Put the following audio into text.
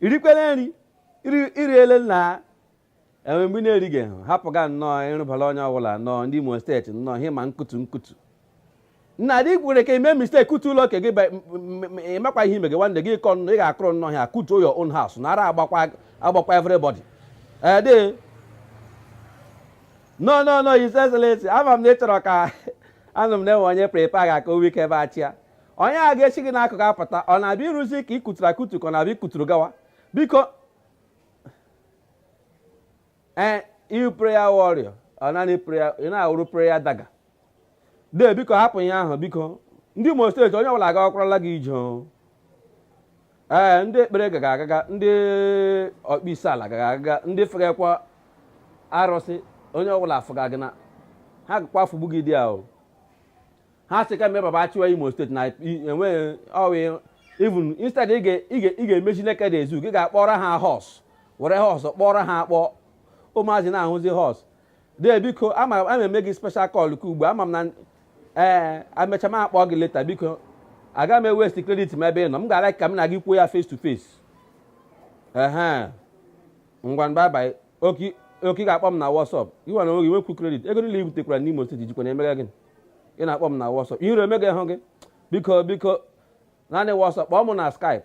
i rikwele nri i riele na enwe mgbe na-erighị ha hapụga nnọọ ịrụbara onye ọbụla nnọọ ndị imo steeti nnọọ ihe ma nkutu nkutu nna dị kwere ka i mee mistake kụtuo ụlọ ke gị ị makwa ihe ime gị nwanne gị kọ nnọọ ị ga-akụrụ nnọọ ha kụtuo your own house na ara agbakwa agbakwa everybody ede eh, no no no his excellency ama m na ị chọrọ ka anụ m na-enwe onye prepare ga ka owike ebe a chịa onye a ga-esi gị n'akụkụ apụta ọ na-abịa ịrụzi ke ị kụturu akụtu ka ọ na-abịa ịkụturu gawa biko ee ị wụ prayer warrior ọ naanị prayer ị na-awụrụ prayer daga dee biko hapụ ihe ahụ biko ndị Imo steeti onye ọbụla agawakwara gị ije o. ee ndị ekpere gaga agaga ndị ọkpọ isi ala gaga agaga ndị fegakwa arụsị onye ọbụla afụga gị na ha gakwa afụgbu gị dị ahụ ha sị ka mee baba achịwa imo steeti na enweghị ọwụ even instead ị ga- ị ga- ị ga-emechi Nekede zoo gị ga-akpọrọ ha horse were horse kpọrọ ha akpọ ụmụazị na-ahụzi horse dee biko ama ama eme gị special call ka ugbu a, ama m na ee amecha m akpọ gị later biko aga m ewaste credit m ebe ị nọ m ga-ala ka m na gị kwuo ya face to face ehe ngwa bye bye okay okay ị ga-akpọ m na WhatsApp iwe na oge nwekwu credit ego niile i butekwara n'Imo steeti jikwa na-emega gịnị ị na-akpọ m na WhatsApp ihere emegahụ gị biko biko naanị WhatsApp kpọọ m na Skype